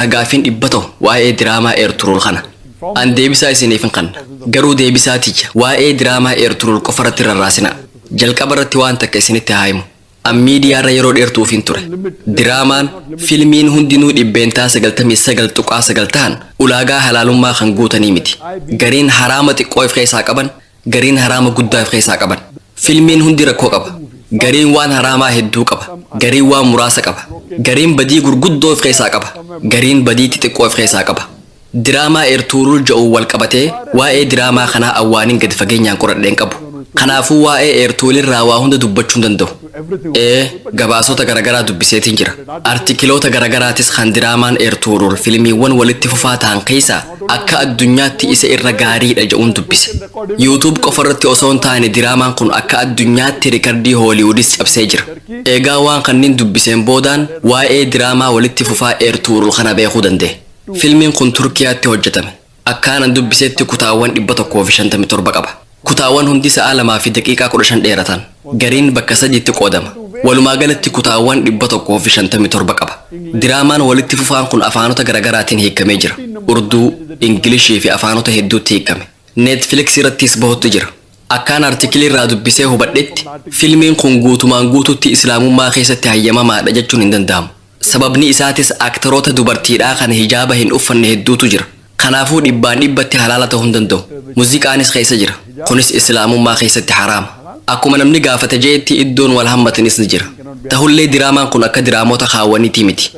a gaaffiin dhibba tahu waa'ee diraamaa eerturuul kana an deebisaa isiniif hin kanna garuu deebisaa tiyya waa'ee diraamaa eerturuul qofa irratti rarraasina jalqaba irratti waan takka isinitti haa himu an miidiyaa irra yeroo dheertuufiin ture diraamaan filmiin hundinuu dhibbeentaa sagaltamii sagal tuqaa sagal tahan ulaagaa halaalummaa kan guutanii miti gariin haraama xiqqoo if keessaa qaban gariin haraama guddaa if keessaa qaban. Filmiin hundi rakkoo qaba. Gariin waan haraamaa hedduu qaba. Gariin waan muraasa qaba. Gariin badii gurguddoo if keessaa qaba. Gariin badii xixiqqoo if keessaa qaba. Diraamaa Eertuurul ja'uun wal qabatee waa'ee diraamaa kanaa an waanin gadi fageenyaan qoradhe hin qabu. Kanaafuu waa'ee Eertuulirraa waa hunda dubbachuu hin danda'u. Ee, gabaasota garagaraa dubbiseetiin jira. Artikiloota garagaraatis kan diraamaan Eertuurul filmiiwwan walitti fufaa tahan keessaa akka addunyaatti isa irra gaariidha ja'uun dubbise. Youtube qofarratti osoo hin taane diraamaan kun akka addunyaatti rikardii Hooliwudis cabsee jira. Eegaa waan kanniin dubbiseen boodaan waa'ee diraamaa walitti fufaa Eertuurul kana beekuu danda'e. Filmiin kun Turkiyaatti hojjatame. Akkaanan dubbisetti kutaawwan 157 qaba. Kutaawwan hundi sa'a 2:15 dheeratan. Gariin bakka sadiitti qoodama. Walumaa galatti kutaawwan 157 qaba. Diraamaan walitti fufaan kun afaanota garagaraatiin hiikkamee jira. Urduu, Ingilishii fi afaanota hedduutti hiikkame. Netflix irrattis bahutti jira. Akkaan artikilii irraa dubbisee hubadhetti, filmiin kun guutumaan guutuutti Islaamummaa keessatti hayyamamaadha jechuun hin danda'amu. Sababni isaatis aktaroota dubartiidhaa kan hijaaba hin uffanne hedduutu jira. Kanaafuu dhibbaan dhibbatti halaala ta'uu hin danda'u. Muziqaanis keessa jira. Kunis Islaamummaa keessatti haraama. Akkuma namni gaafate je'etti iddoon wal hammatanis ni jira. Tahullee diraamaan kun akka diraamoota kaawwaniitii miti.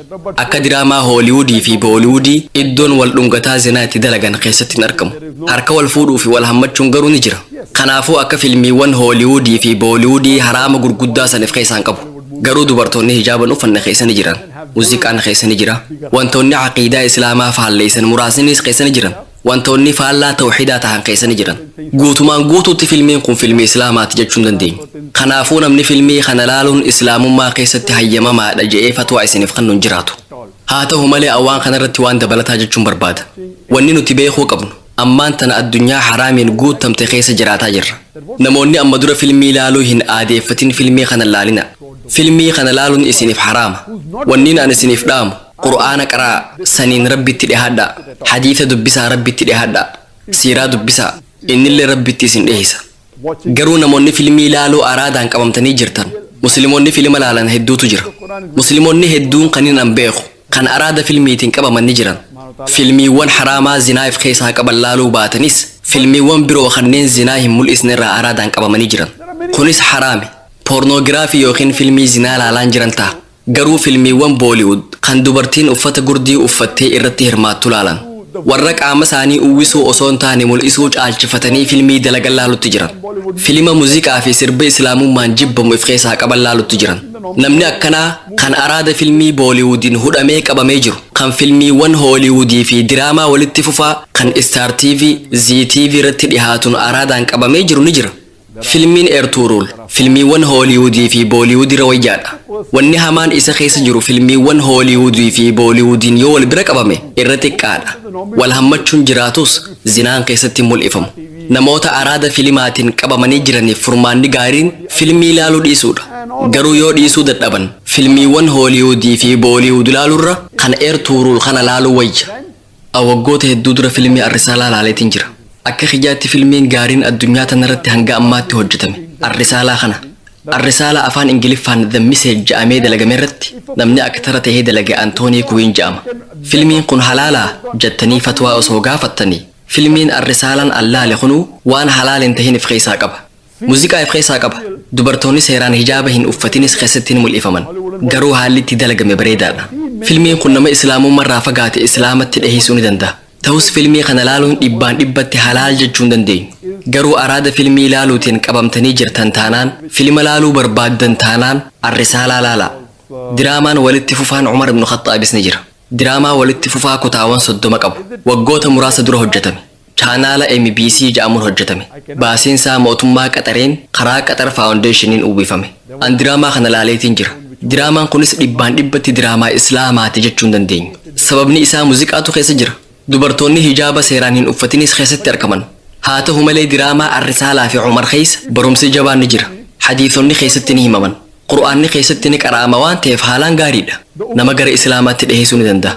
Akka diraamaa Hooliwuudii fi Booliwuudii iddoon wal dhungataa zinaa itti dalagan keessatti hin argamu. Harka wal fuudhuu fi wal hammachuun garuu ni jira. Kanaafuu akka filmiiwwan Hooliwuudii fi Booliwuudii haraama gurguddaa san if keessaa hin qabu. Garuu dubartoonni hijaaban uffanne keessa ni jiran, muziqaan keessa ni jira, wantoonni aqiidaa islaamaa faalleessan muraasniis keessa ni jiran, wantoonni faallaa tawhiidaa tahan keessa ni jiran. Guutumaan guutuutti filmiin kun filmii islaamaati jechuu hin dandeenyu. Kanaafuu namni filmii kana laaluun islaamummaa keessatti hayyamamaadha je'ee fatwaa isiniif kannu hin jiraatu. Haa tahu malee an waan kanarratti waan dabalataa jechuun barbaada. Wanni nuti beekuu qabnu. Ammaan tana addunyaa haraamiin guuttamte keessa jiraataa jirra. Namoonni amma dura filmii laaluu hin aadeeffatin filmii kana hin laalinaa. Filmii kana laaluun isiniif haraama. Wanniin an isiniif dhaamu, Qur'aana qara'aa, saniin Rabbitti dhihaadhaa. Hadiisa dubbisaa Rabbitti dhihaadhaa. Siiraa dubbisaa, innillee Rabbitti isin dhihisa. Garuu namoonni filmii laaluu araadaan qabamtanii jirtan, muslimoonni filima laalan hedduutu jira. Muslimoonni hedduun kanin an beeku, kan araada filmiitiin qabaman ni jiran. Filmiiwwan haraamaa zinaa if keessaa qaban laaluu baatanis, filmiiwwan biroo kanneen zinaa hin mul'isne irraa araadaan qabamanii jiran. Kunis haraami. Poornoogiraafii ykn filmii zinaa laalaan jiran taha. Garuu filmiiwwan Booliwud kan dubartiin uffata gurdii uffattee irratti hirmaattu laalan warra qaama isaanii uwwisuu osoo hin taane mul'isuu caalchifatanii filmii dalagan laalutti jiran. Filima muziqaa fi sirba Islaamummaan jibbamu if keessaa qaban laalutti jiran. Namni akkanaa kan araada filmii Booliwudiin hudhamee qabamee jiru, kan filmiiwwan Hooliwudii fi diraamaa walitti fufaa kan Star TV, Zee TV irratti dhihaatun araadaan qabamee jiru ni jira. Filmiin Ertuuruul filmiiwwan Hooliwuudii fi Booliwuudira wayyaadha. Wanni hamaan isa keessa jiru filmiiwwan Hooliwuudii fi Booliwuudiin yoo wal bira qabame irra xiqqaadha. Wal hammachuun jiraatus zinaan keessatti hin mul'ifamu. Namoota araada filimaatiin qabamanii jiraniif furmaanni gaariin filmii laaluu dhiisuudha. Garuu yoo dhiisuu dadhaban filmiiwwan Hooliwuudii fi Booliwuud laalurra kan Ertuuruul kana laaluu wayya. A Waggoota hedduu dura filmii Arrisaalaa laaleetiin jira. Akka kiyyaatti filmiin gaariin addunyaa tanarratti hanga ammaatti hojjatame Arrisaalaa kana. Arrisaalaa afaan Ingiliffaan The Message ja'amee dalagamerratti namni aktara tahee dalage Antoonii Kuwiin ja'ama. Filmiin kun halaalaa? jattanii fatwaa osoo gaafattanii, filmiin Arrisaalaan an laale kunuu waan halaal hin tahin if keessaa qaba. Muziqaa if keessaa qaba. Dubartoonni seeraan hijaaba hin uffatinis keessatti ni mul'ifaman. Garuu haalli itti dalagame bareedaadha. Filmiin kun nama Islaamummarraa fagaate Islaamatti dhiheessuu ni danda'a. Tahus filmii kana laaluun dhibbaan dhibbatti halaal jechuu hin dandeenyu. Garuu araada filmii laaluutiin qabamtanii jirtan taanaan, filima laaluu barbaaddan taanaan Ar-Risaalaa laalaa. Diraamaan walitti fufaan Umar ibn Khaxxaabis ni jira. Diraamaa walitti fufaa kutaawan 30 qabu. Waggoota muraasa dura hojjetame. Chaanaala MBC ja'amuun hojjatame. Baasiin saa mootummaa Qaxareen karaa Qaxar Faawundeeshiniin uwwifame. An diraamaa kana laaleetiin jira. Diraamaan kunis dhibbaan dhibbatti diraamaa Islaamaati jechuu hin dandeenyu. Sababni isaa muziqaatu keessa jira. Dubartoonni hijaaba seeraan hin uffatinis keessatti arkaman. Haa tahu malee diraamaa Ar-Risaalaa fi Umar keessa barumsi jabaan ni jira. Hadiisonni keessatti ni himaman. Qur'aanni keessatti ni qara'ama waan ta'eef haalaan gaariidha. Nama gara Islaamaatti dhiheessuu ni danda'a.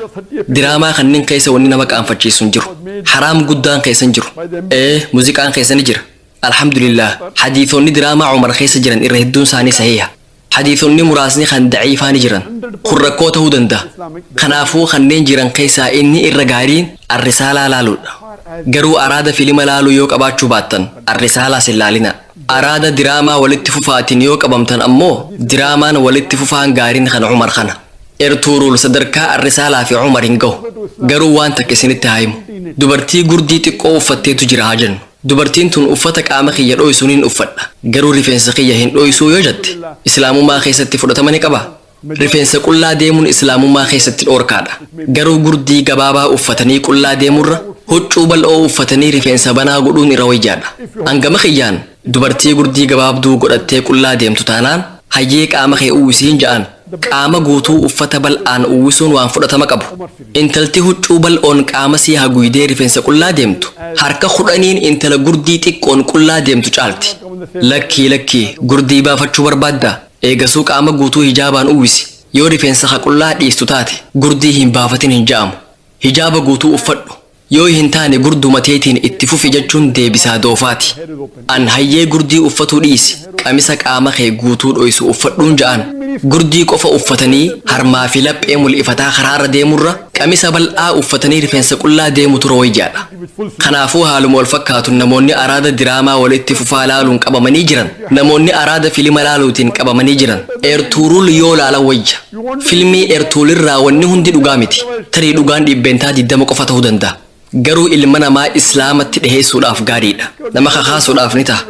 Diraamaa kanneen keessa wanni nama qaanfachiisu hin jiru. Haraam guddaan keessa hin jiru. Ee, muuziqaan keessa ni jira. Alhamdulillaah, hadiisonni diraamaa Umar keessa jiran irra hedduun isaanii sahiiha. Hadiisonni muraasni kan da'iifaa ni jiran. Kun rakkoo ta'uu danda'a. Kanaafuu kanneen jiran keessaa inni irra gaariin Ar-Risaalaa laaluudha. Garuu araada filima laaluu yoo qabaachuu baattan Ar-Risaalaas hin laalinaa. Araada diraamaa walitti fufaatiin yoo qabamtan ammoo diraamaan walitti fufaan gaariin kan Umar kana. Ertuuruul sadarkaa Arrisaalaa fi Umar hin gahu. Garuu waan takka isinitti haa himu. Dubartii gurdii xiqqoo uffatteetu jira haa jennu. Dubartiin tun uffata qaama kiyya dhooysu nin uffadha. Garuu rifeensa kiyya hin dhooysuu yoo jette, Islaamummaa keessatti fudhatama ni qabaa? Rifeensa qullaa deemuun Islaamummaa keessatti dhoorkaadha. Garuu gurdii gabaabaa uffatanii qullaa deemurra huccuu bal'oo uffatanii rifeensa banaa godhuun irra wayyaadha. An gama kiyyaan dubartii gurdii gabaabduu godhattee qullaa deemtu taanaan hayyee qaama kee uwwisiin ja'aan qaama guutuu uffata bal'aan uwwisuun waan fudhatama qabu. Intalti huccuu bal'oon qaamasii haguuydee rifeensa qullaa deemtu harka kudhaniin intala gurdii xiqqoon qullaa deemtu caalti. Lakkii lakkii gurdii baafachuu barbaaddaa? Eegasuu qaama guutuu hijaabaan uwwisi. Yoo rifeensa ka qullaa dhiistu taate, gurdii hin baafatin hin ja'amu. Hijaaba guutuu uffadhu. Yoo hin taane gurduma teetiin itti fufi jechuun deebisaa doofaati. An hayyee gurdii uffatuu dhiisi, qamisa qaama kee guutuu dhoysu uffadhuun ja'aan. Gurdii qofa uffatanii harmaa fi laphee mul'ifataa karaarra deemurra, qamisa bal'aa uffatanii rifeensa qullaa deemutu rooyyaadha. Kanaafuu haaluma walfakkaatuun namoonni araada diraamaa walitti fufaa laaluun qabamanii jiran namoonni araada filima laaluutiin qabamanii jiran Ertuurul yoo laalan wayya. Filmii Ertuulirraa wanni hundi dhugaa miti. Tarii dhugaan dhiibbeentaa 20 qofa ta'uu danda'a. Garuu ilma namaa Islaamatti dhiheessuudhaaf gaariidha. Nama kakaasuudhaaf ni taha.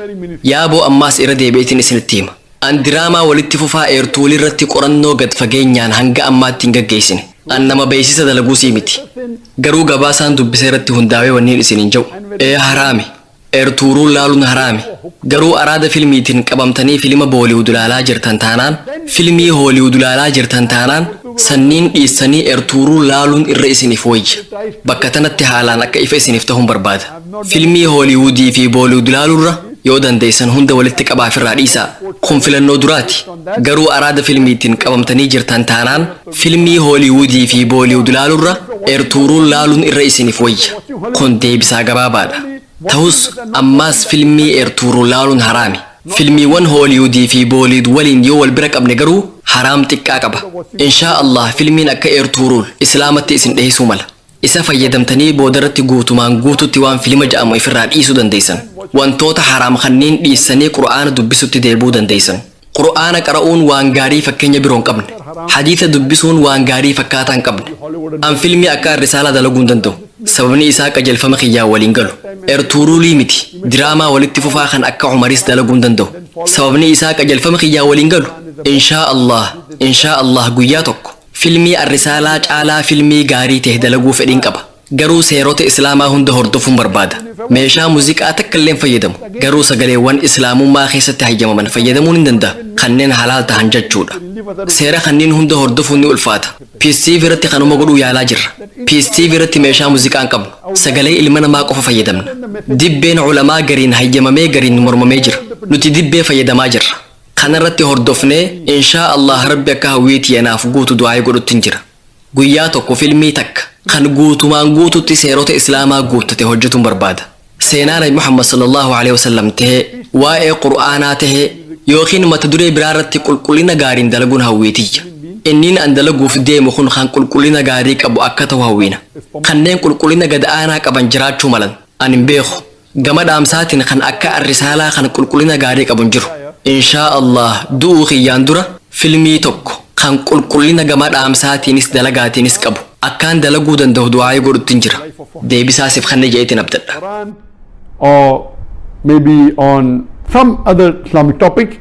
Yaaboo ammaas irra deebi'eetiin isinitti hima. An diraamaa walitti fufaa eertuulii irratti qorannoo gad fageenyaan hanga ammaatti hin gaggeessine. An nama beeksisa dalaguusii miti. Garuu gabaasaan dubbise irratti hundaawee wanniin isiniin ja'u, ee haraami. Eertuuruul laaluun haraami. Garuu araada filmiitiin qabamtanii filima Booliwud laalaa jirtan taanaan, filmii Hooliwud laalaa jirtan taanaan, sanniin dhiissanii Eertuuruul laaluun irra isiniif woyya. Bakka tanatti haalaan akka ifa isiniif tahuun barbaada. Filmii Hollywood fi Bollywood laalurra yoo dandeessan hunda walitti qabaa firraa dhiisaa. Kun filannoo duraati. Garuu araada filmiitiin qabamtanii jirtan taanaan filmii Hollywood fi Bollywood laalurra Ertuuruul laaluun irra isiniif wayya. Kun deebisaa gabaabaadha. Tahus ammaas filmii Ertuuruul laaluun haraami. Filmiiwwan Hollywood fi Bollywood waliin yoo wal bira qabne garuu haraam xiqqaa qaba. Inshaa Allaah filmiin akka Ertuuruul Islaamatti isin dhiheessuu mala. Isa fayyadamtanii boodarratti guutumaan guututti waan filima ja'amu ifirraa dhiisuu dandeeysan. Wantoota haraam kanniin dhiissanii Qur'aana dubbisutti deebi'uu dandeeysan. Qur'aana qara'uun waan gaarii fakkeenya biroo hin qabne. Hadiisa dubbisuun waan gaarii fakkaataa hin qabne. An filmii akka Arrisaalaa dalaguu hin danda'u. Sababni isaa qajeelfama kiyyaan wal hin galu. Ertuuruulii miti. Diraamaa walitti fufaa kan akka Umariis dalaguu hin danda'u. Sababni isaa qajeelfama kiyyaan wal hin galu. Inshaa Allaah, Inshaa Allaah guyyaa tokko Filmii Arrisaalaa caalaa filmii gaarii tahe dalaguu fedhiin qaba. Garuu seerota Islaamaa hunda hordofuun barbaada. Meeshaa muziqaa takka illee hin fayyadamu. Garuu sagaleewwan Islaamummaa keessatti hayyamaman fayyadamuun hin dandaha, kanneen halaal tahan jachuu dha. Seera kanniin hunda hordofuun ni ulfaata. Peace TV irratti kanuma godhuu yaalaa jirra. Peace TV irratti meeshaa muziqaa hin qabnu. Sagalee ilma namaa qofa fayyadamna. Dibbeen ulamaa gariin hayyamamee gariin mormamee jira. Nuti dibbee fayyadamaa jirra. Kanarratti hordofnee inshaa allaah rabbi akka hawwii tiyya naaf guutu du'aa'ii godhuttin jira. Guyyaa tokko filmii takka kan guutumaan guututti seerota islaamaa guuttate hojjatuun barbaada. Seenaa nabi Muhammad sallallaahu aleyhi wasallam tahee, waa'ee qur'aanaa tahee ykn mata duree biraarratti qulqullina gaariin dalaguun hawwii tiyya. Inniin an dalaguuf deemu kun kan qulqullina gaarii qabu akka tahu hawwina. Kanneen qulqullina gad aanaa qaban jiraachuu malan. An hin beeku. Gama dhaamsaatiin kan akka Arrisaalaa kan qulqullina gaarii qabu hin jiru. Inshaa Allaah du'uu kiyyaan dura filmii tokko kan qulqullina gama dhaamsaatiinis dalagaatiinis qabu akkaan dalaguu dandahu du'aa'ii godhuttin jira. Deebisaa sif kanna je'eetiin abdadha. Quran or maybe on some other Islamic topic.